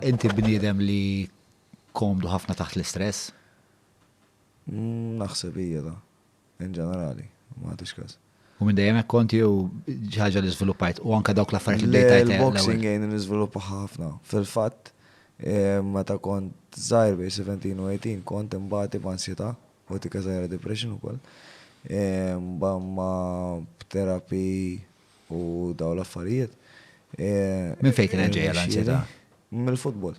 Inti bniedem li komdu ħafna taħt l-istress? Naħseb ija da. In ġenerali, ma tix każ. U minn dejjem hekk kont jew ħaġa li żviluppajt u anke dawk l-affarijiet li bdejt tajt. Il-boxing jgħin niżviluppa ħafna. Fil-fatt, eh, meta kont żgħir bej 17 u 18 kont imbati b'ansjetà u tika żgħira depression ukoll. Eh, ma b'terapi u daw l-affarijiet. Minn fejn kienet ġejja l-anzjetà? Mill-futbol.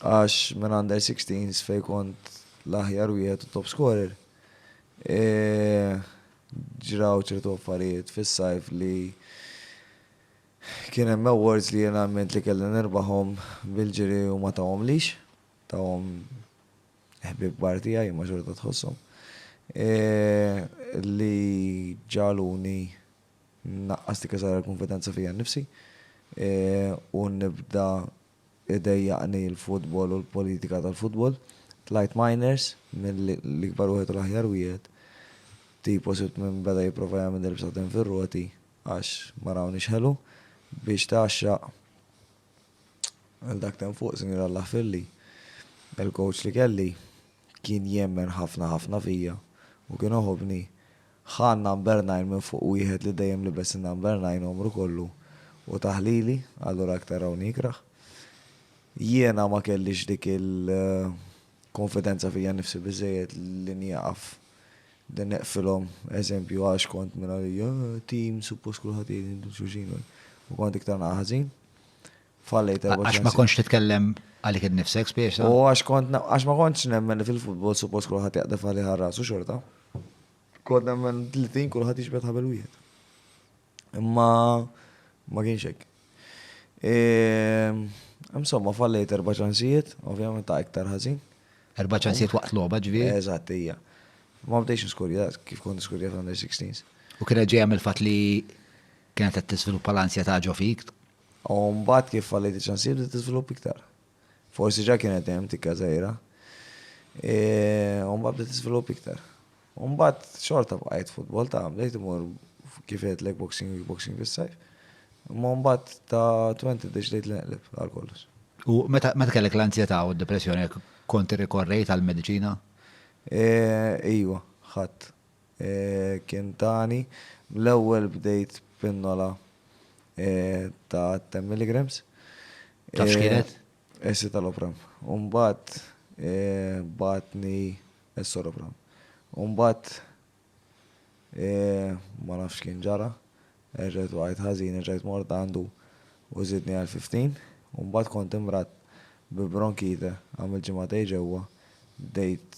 Għax minn under 16s fejn kont l-aħjar wieħed u top scorer. Ġraw ċertu affarijiet fis-sajf li kien hemm awards li jien għamilt li kelli nirbaħhom bil-ġiri u ma tawhomlix. Tawhom Ħbieb kbar tiegħi imma xorta tħosshom. Li ġagħluni nnaqqas dik iż-żgħira l-kunfidenza fija nnifsi u nibda idejjaqni l-futbol u l-politika tal-futbol. Tlajt minors mill-ikbar wieħed u l-aħjar wieħed. Tipo sibt min beda jipprova jagħmilni l-bsaten fir-roti għax ma rawniex ħelu biex tgħaxxaq. Għal dak t'hemm fuq, Sinjura Lahfilli, il-coach li kelli kien jemmen ħafna ħafna fija u kien iħobbni. Ħa n-number nine minn fuq wieħed li dejjem libes in-number nine għomru kollu u tah lili, allura aktar hawn jikrah. Jiena ma kellix dik il. konfidenza fija nnifsi biżżejjed li nieqaf li neqfilhom eżempju għax kont minn li eh, team suppost kulħadd jgħidilkom xulxin u kont iktar naqa' ħażin. Fallejt erba' Għax ma kontx titkellem għalik innifsek spiex. U għax kont għax ma kontx nemmen li fil-futbol suppost kulħadd jaqdef għalih ħarras u xorta. Kont nemmen li tim kulħadd jiġbed ħabel wieħed. Imma ma kienx hekk. Insomma, fallejt erba' ċansijiet, ovvjament ta' iktar ħażin. Erba' ċansijiet waqt logħba ġvi? Eżatt, hija. Ma bdejx niskurja, kif kont niskurja fl-under 16s. U kienet ġejja mill-fatt li kienet qed tiżviluppa l-ansjetà ġo fik? U mbagħad kif fallejt iċ-ċansijiet bdiet tiżviluppa iktar. Forsi ġa kienet hemm tikka żgħira. U mbagħad bdiet tiżvilupp iktar. U mbagħad xorta bqajt futbol ta' bdejt imur kif għedlek boxing kickboxing fis-sajf. Imma mbagħad ta' 20 deċidejt li neqleb għal kollox. U meta kellek l-anzjetà u d-depressjoni kont irrikorrejt għall-mediċina? Ejwa, ħadt. kien tani, l-ewwel bdejt pinnola ta' ten milligrams. Taf x'kienet? Escitalopram. U mbagħad bagħatni escitalopram. U mbagħad ma nafx x'kien ġara, erġajt waqajt ħażin, erġajt mort għandu u żidni għal fifteen. U mbagħad kont imradd bi bronkite, għamilt ġimagħtejn ġewwa, bdejt